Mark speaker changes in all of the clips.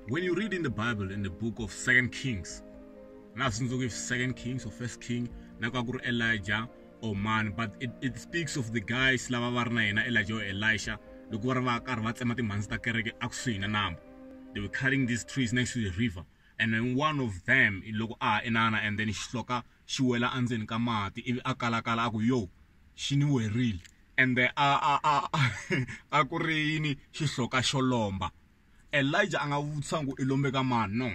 Speaker 1: When you read in the Bible, in the book of Second Kings, now since we Second Kings or First King, Nakakur Elijah or oh man, but it, it speaks of the guys lava va ri na yena Elijah or Elisha loko va ri va karhi va tsema timhandzi ta kereke a kusuhi na nambu they were cutting these trees next to the river and then one of them loko a ha inana and then xihloka xi wela endzeni ka mati ivi a kalakala a ku yo xi ni werile and then a a a a ku ri yini xihloka xo lomba Elijah a nga vutisa ku i lombe ka mani no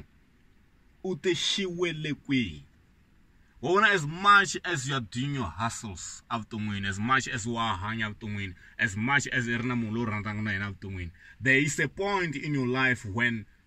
Speaker 1: u te xi wele kwihi wa vona as much as you are doing your hustles evuton'wini as much as wa hanya evuton'wini as much as i ri na munhu loyi rhandzaka na yena evuton'wini there is a point in your life when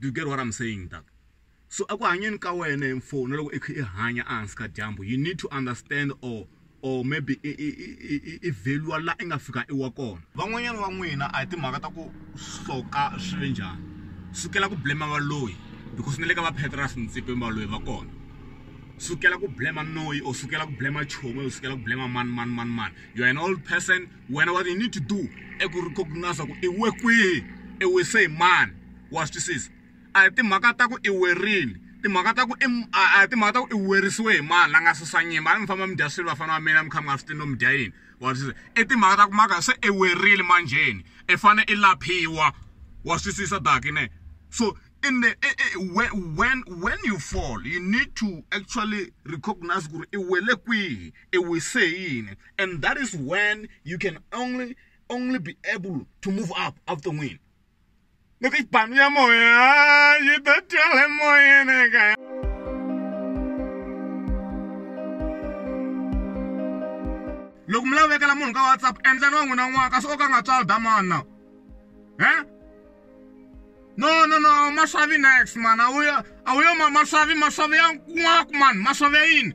Speaker 1: Do you get what I'm saying Doug? So aku hanyeni ka wena mfo na loko i kha i hanya ehansi ka dyambu you need to understand or or maybe i value la i nga fika i wa kona van'wanyana va n'wina a hi timhaka ta ku hloka swi ve njhani sukela ku blema valoyi because ni le ka va petras ntsipeni valoyi va kona sukela ku blema noyi or sukela ku blema chomi or sukela ku blema mani mani mani mani you are an old person wena what you need to do i ku recognize ku i we kwihi i wise hi mani wa swi twisisa a hi timhaka ta ku i werile timhaka ta ku i a hi timhaka ta ku i werisiwe hi mani la nga susa nyimba a mi famba mi dya swilo vafana va mina mi kha mi nga swi tivi no mi dya yini wa swi twisisa i timhaka ta ku maka se i werile manjheni i fane i laphiwa wa swi twisisa dakine so in the when when you fall you need to actually recognize ku ri i wele kwihi it will say yini and that is when you can only only be able to move up evuton'wini loko ibanu ya moya yi ta twala emoyeni ekaya loko mi lavekela munhu ka whatsapp endlani wa n'wina n'wana kasi o ka nga tswali damana he no no no maswavi next mani a wu yo a wu yo maswavi maswavi ya nwaku mani maswavi ya yini